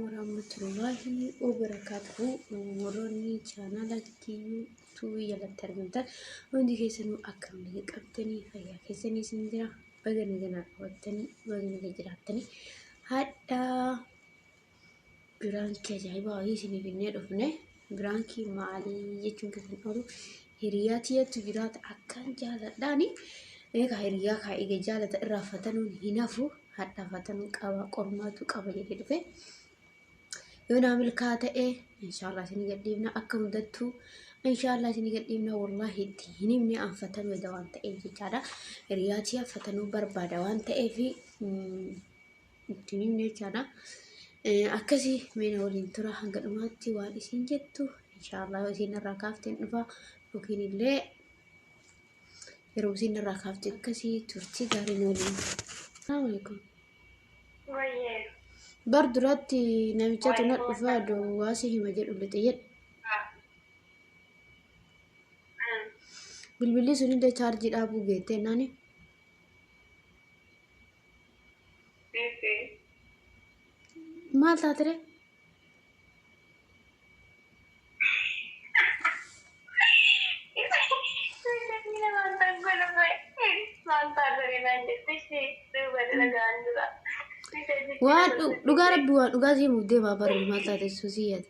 warahmatullahi wabarakatuhu warroonni chaanala kiyyuutuu jalatti argamtan hundi keessanuu akkam naga qabdanii fayyaa keessanii isin jira baga naganaa qabattanii baga naga jiraattanii hadhaa Biraankii ajaa'ibaa wayii isinii finnee dhufne. Biraankii maalii jechuun keessan oolu hiriyaa tiyatu jiraata akkaan jaaladhaani. Eegaa hiriyaa kaa eega jaalata irraa fatanuun hin hafu hadhaa fatanuu qaba qormaatu qaba jedhee dhufe. Yoo naa milkaa ta'e inshaallah isinii gadhiifna akka hundattuu inshaallah isinii gadhiifna wallaahi itti hin himne an fatanuu eda waan ta'eef jechaadha. Hiriyaa tiya fatanuu barbaada waan ta'eef. itti hin himne jechaadha. Akkasii meena waliin tura hanga dhumaatti waan isin jettu inshaallah isin irraa kaafteen dhufa yookiin illee yeroo isin irraa kaafte akkasii turtii gaarii nu waliin. Salaamu alaikum. Bar duratti namichatu na dhufa duwwaa si hima jedhu lixe jedhe. Bilbilli sun illee chaarjii dhaabuu geettee naani. Maal taatire? Waan dhu- dhugaa rabbi waan dhugaa sii muuf deemaa barri maal taate susii yaade.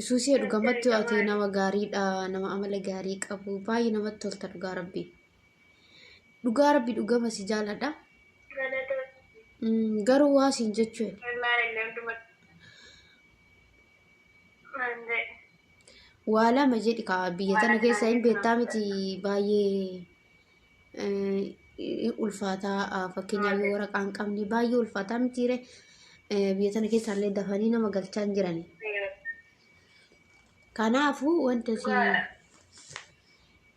Isuusee dhugamatti ati nama gaariidha nama amala gaarii qabu baay'ee namatti tolta dhugaa rabbi dhugaa rabbi dhugama si jaaladha Mm, garuu waa siin jechuu waa lama jedhi kaa biyya tana keessa hin beektaa miti baay'ee ulfaataa fakkeenyaaf yoo waraqaa hin qabne baay'ee ulfaataa mitiire biyya sana keessaallee dafanii nama galchaa hin jiran. Kanaafuu wanta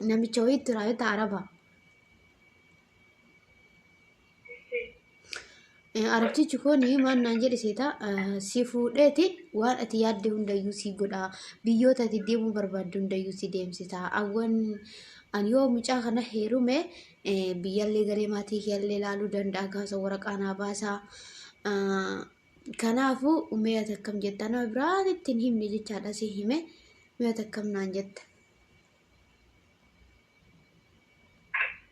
namicha wayiitti raayota araba. Arabtichi kun maal naan jedhe seetaa si fuudheeti waan ati yaadde hundayyuu si godha biyyoota ati deemuu barbaadde hundayyuu si deemsisa awwan an yoo mucaa kana heerume biyyallee garee maatii kiyallee ilaaluu danda'a gaasa waraqaa naa baasaa kanaafuu umee ati akkam jettaa nama biraatitti hin himne jechaadha si hime mee ati akkam naan jetta.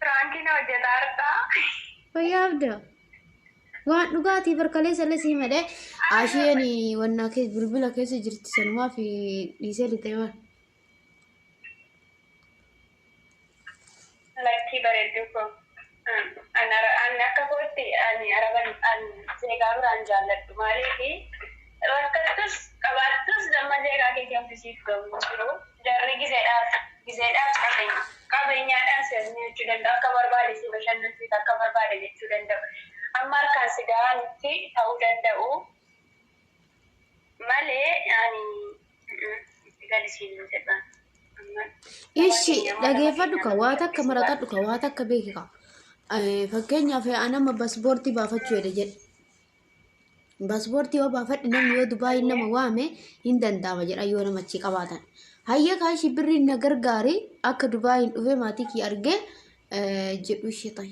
Piraankii na hojjetaa har'aa. Fayyaa abda. Waan dhugaatii barkalee salle sii madhee. Ashiyeen wannaa kee bilbila keessa jirti sanumaa fi dhiisee lixee waan. Lakkii bareedduu koo an an akka kootti ani araban an zeegaa biraa hin jaalladhu maaliifi rakkattus qabaattus damma zeegaa keetii wanti siif ga'u hin jiru jarri gizedhaaf gizeedhaaf qabenya qabenyaadhaan si ajnyaachuu danda'u akka barbaade si bashannansiisa akka barbaade jechuu danda'u amma harkaan si ga'aa mitti ta'uu danda'u Malee ani itti gali siin hin jedha. Amma Ishi dhageeffadhu ka waa takka maraqadhu ka waa takka beeki ka. Eh, Fakkeenyaaf anama basboortii baafachuu jedhe jedhe. Basboortii yoo baafadhe namni yoo Dubaay nama waame hin danda'ama jedha yoo nama achi qabaatan. Hayya kaa ishi birri na gargaari akka Dubaay hin dhufee maatii kiyya argee eh, jedhu ishee ta'e.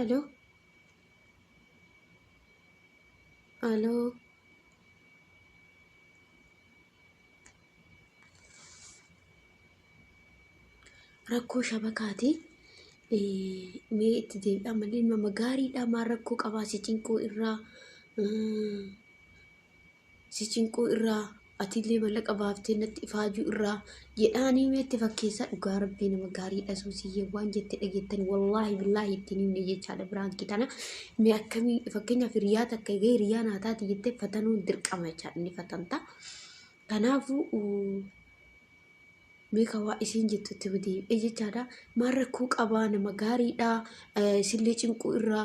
Alo. Alo. Rakkoo shabakaati. Eh, Mee itti deebi'aa malee nama gaariidha maa rakkoo qabaa si cinquu irraa. Mm. si cinquu irraa atiillee mallaqa baaftee natti ifaajuu irraa jedhaanii meetti fakkeessaa dhugaa rabbii nama gaariidha suusiyyee waan jette dhageettan wallaahi billaahi ittiin himne jechaadha biraankii tana mee akkamii fakkeenyaaf hiriyaa takka egaa hiriyaa naa taati jettee fatanuun dirqama jechaadha ni fatanta. Kanaafuu mee ka waa isiin jettu itti himti ee jechaadha. Maal rakkoo qabaa nama gaariidha isillee cinquu irraa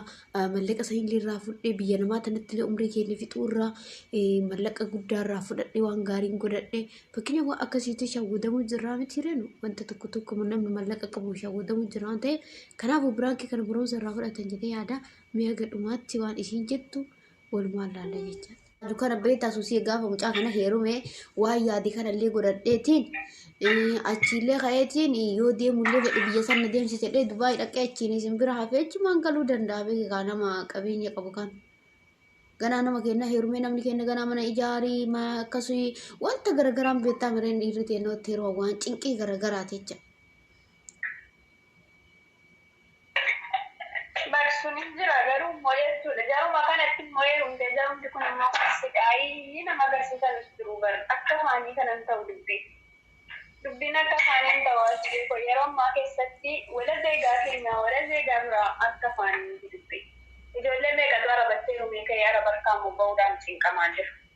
mallaqa sanillee irraa fudhee biyya namaa tanattillee umrii keenya fixuu irraa mallaqa guddaa irraa fudhadhe waan gaariin godhadhe fakkina waan akkasiitti shawwadamuu jirraa miti reenu wanta tokko tokko namni mallaqa qabu shawwadamuu jirra waan ta'eef kanaafuu biraankii kana barumsa irraa fudhatan jedhee yaada mee haga dhumaatti waan isiin jettu Walumaan laalla jecha. Dukana beektaa suusii gaafa mucaa kana heerume waan yaade kanallee godhadheetiin achiillee ka'eetiin yoo deemullee fedhe biyya sana deemsisedhee Dubaay dhaqee achiin isin bira hafee achumaan galuu danda'a beekaa nama qabeenya qabu kan. Ganaa nama kenna heerumee namni kenna ganaa mana ijaarii akkasii wanta garagaraan beektaa mireen dhiirri teennootti yeroo waan cinqii garagaraati jecha. Baksuun hin jira garuu immoo jechuudha. Jaruma kanatti immoo heerumtee jarumti kun immoo kan siqaayii nama agarsiisanis jiru bar akka faanii kanan ta'u dubbii. Dubbiin akka faanii hin ta'u asbee koo yeroo ammaa keessatti wala zeegaa keenya wala zeegaa biraa akka faanii miti dubbii. Ijoollee meeqatu arabattee rumee ka'ee araba harkaa immoo ba'uudhaan cinqamaa jira.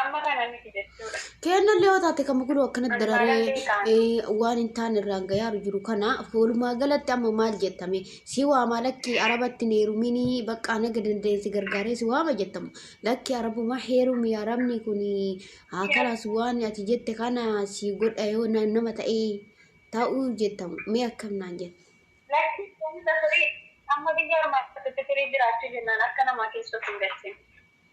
Amma kana miti jechuudha. Keennallee yoo taate kan muguluu akkanatti dararee waan hin taane irraan gayaaru jiru kana walumaa galatti amma maal jettame si waama lakkii arabatti hin heeruminii baqqaa naga dandeensi gargaaree si waama jettamu lakkii arabuma heerumi arabni kun haa kalaas waan ati jette kana si godha yoo na- nama ta'ee ta'uu jettamu mee akkam naan jette. Lakki kunis asirii amma biyya armaatti firii jiraachuu jennaan akka namaa keessatti hin galchin.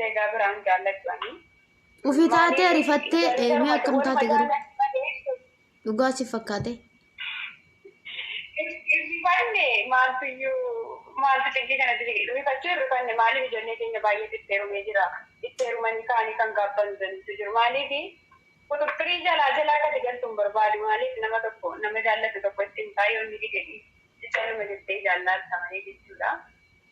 Zeegaa biraan jaalladhu ani. Ufi taatee rifattee ee, mee akkam taate garuu dhugaa si fakkaate. Rifanne maaltu iyyuu maaltu xiqqii kana diri rifachuu hin rifanne maaliif ijoollee keenya baay'ee dhitteerumee jira. Dhitteerumanii kaanii kan gaabban jirantu jiru maaliif quxuxxirii jalaa jala akka ati galtu hin barbaadu maaliif nama tokko nama jaallatu tokko itti himtaa yoo inni dide itti nama jettee jaallaatta malee jechuudha.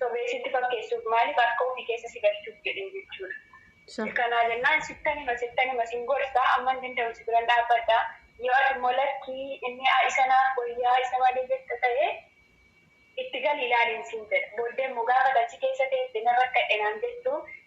Sobee sitti fakkeessuuf maaliif harka ofii keessa si galchuuf jedhee jechuudha. Sahi. Kanaa jennaan sittan hima sittan hima sin gorsa amman danda'u si biran dhaabbadha yoo ati immoo lakkii inni a isa naaf wayyaa isa malee jetta ta'e itti gali ilaaliin siin jedha. Booddee immoo gaafa ati achi keessa teesse nan rakkadhe naan jettu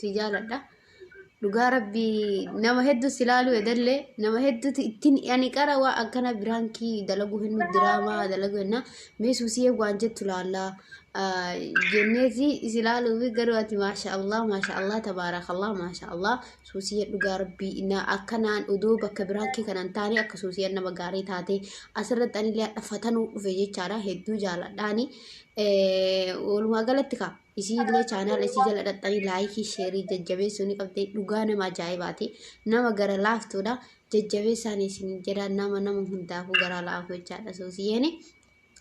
si jaaladha dhugaa rabbii nama hedduu si laaluu edallee nama hedduutu ittiin ani qara waa akkana biraankii dalaguu hin diraamaa dalaguu hin mee suusiyee waan jettu laallaa jenneeti si laaluu fi garuu ati maasha allah maasha allah tabaarakallah maasha allah suusiyee dhugaa rabbii na akkanaan odoo bakka biraankii kanan taane akka suusiyeen nama gaarii taate asirratti anillee hadhafatanuu dhufe jechaadha hedduu jaaladhaani walumaa galatti kaa isiillee chaanaala isii jala dhaxxanii laayikii sheerii jajjabeessuu ni qabdi dhugaa nama ajaa'ibaati nama gara laaftuudha jajjabeessaan isin jedha nama nama hundaafuu garaa laafu jechaadha suusiyeeni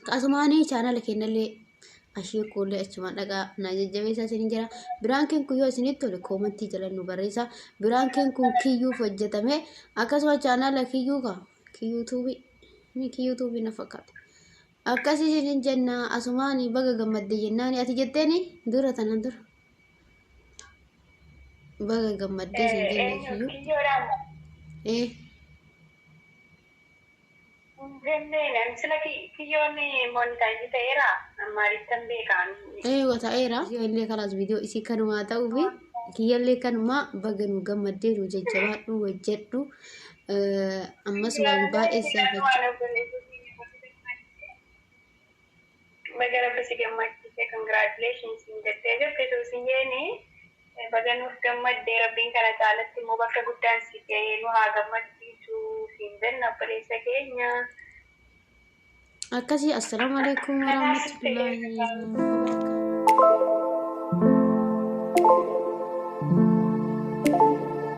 qasumaanii chaanaala kennallee ashee kuullee achumaan dhagaa na jajjabeessaa isin jira biraan keen kun yoo isinitti tole koomantii jala nu barreessa biraan keen kun kiyyuuf hojjetame akkasuma chaanaala kiyyuu ka kiyyuutuubii ni kiyyuutuubii na fakkaata Akkas isinin jenna asumaani baga gammadde jennaani ati jetteeni dura tanan dura. Baga gammadde isin jenna Eenyu iyyuu. kiyyoodhaan Ee hin jenneen ani sila ki- kiyyoon monitaayizi ta'eera ammaalittan beekaan ee wata'eera. Yoo illee kalaas viidiyoo isii kanumaa ta'uu fi kiyyallee kanumaa baga nu gammaddee nu jajjabaadhu hojjedhu Ammas waan baay'ee saafachu. Baga rabbi si gammachiise congratulations hin jettee jirti suusiyyeen baga nuuf gammadde rabbiin kana caalatti immoo bakka guddaan si ga'ee nu haa gammachiisu siin jenna obboleessa keenya. Akkasii assalaamu alaikum warahmatullahi wabarakatuh.